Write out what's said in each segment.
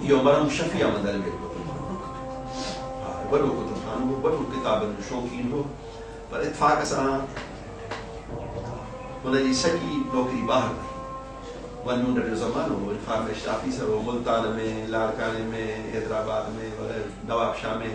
اهو مرحوم شفيع احمد علويء جو وڏو پٽ هو. وڏو ڪتب خانو هو، وڏو ڪتابن جو شوقين هو، پر اتفاق سان هن جي سڄي نوڪري ٻاهر رهي. اها ننڊ جو زمانو هو. انفارميشن آفيسر هو، ملتان ۾، لاڙڪاڻي ۾، حيدرآباد ۾، وغيره نوابشاهه ۾.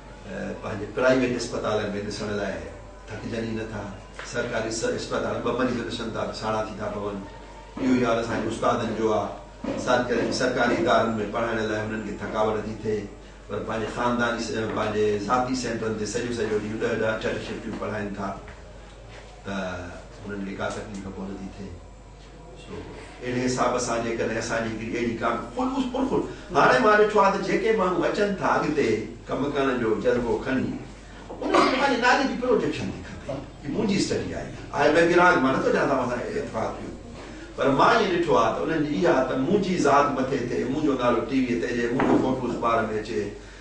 پنهنجي پرائيويٽ اسپتالن ۾ ڏسڻ لاء ٿڪجن ئي نٿا. سرڪاري اسپتال ٻه مريض ڏسن ٿا ته ساڙها ٿي ٿا پون. اهو ئي حال اسان جي استادن جو آ. ساڄ ڪري ته سرڪاري ادارن ۾ پڙهائڻ لاء هنن کي ٿڪاوٽ ٿي ٿئي پر پنهنجي خانداني پنهنجي ذاتي سينٽرن تي سڄو سڄو ڏينهن ڏهه ڏهه اٺ اٺ شفٽيون پڙهائين ٿا ته هنن کي ڪا تڪليف ڪونه ٿي ٿئي. سو اهڙي حساب سان جيڪڏهن اسان جي هڪڙي اهڙي ڪا به خلوص پرخلوص هاڻي مان ڏٺو آهي ته جيڪي ماڻهو اچن ٿا اڳتي ڪم ڪرڻ جو جذبو کڻي انهن کي پنهنجي نالي جي پروجيڪشن ٿي کپي هي منهنجي اسٽڊي آهي آء مي بي رانگ مان نٿو چان توهان سان اتفاق ٿيو پر مان ائين ڏٺو آهي ته انهن جي اها ته منهنجي ذات مٿي ٿئي منهنجو نالو ٽي ويء تي اچي منهنجو فوٽو اخبار ۾ اچي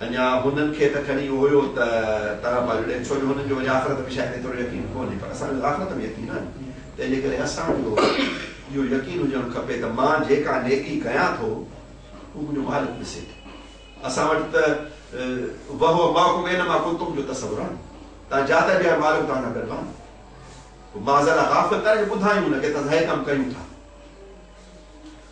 اڃا هنن کي ته کڻي اهو ئي ته طرف آ جڙين ڇو جو هنن جو وري آخرت ۾ شايد ايترو يقين ڪونهي پر اسان جو آخرت ۾ يقين آهي تنهن جي ڪري اسان جو اهو يقين هجڻ کپي ته مان جيڪا نيڪي ڪيان ٿو اهو منهنجو مالڪ ڏسي ٿو اسان وٽ ته وهو معكم اينما ڪنتم جو تصور آهي تان جاتا جي آهي مالڪ تان سان گڏ آهي معذرا غافل ڪري ٻڌايون هن کي ته اسان هي ڪم ڪيون ٿا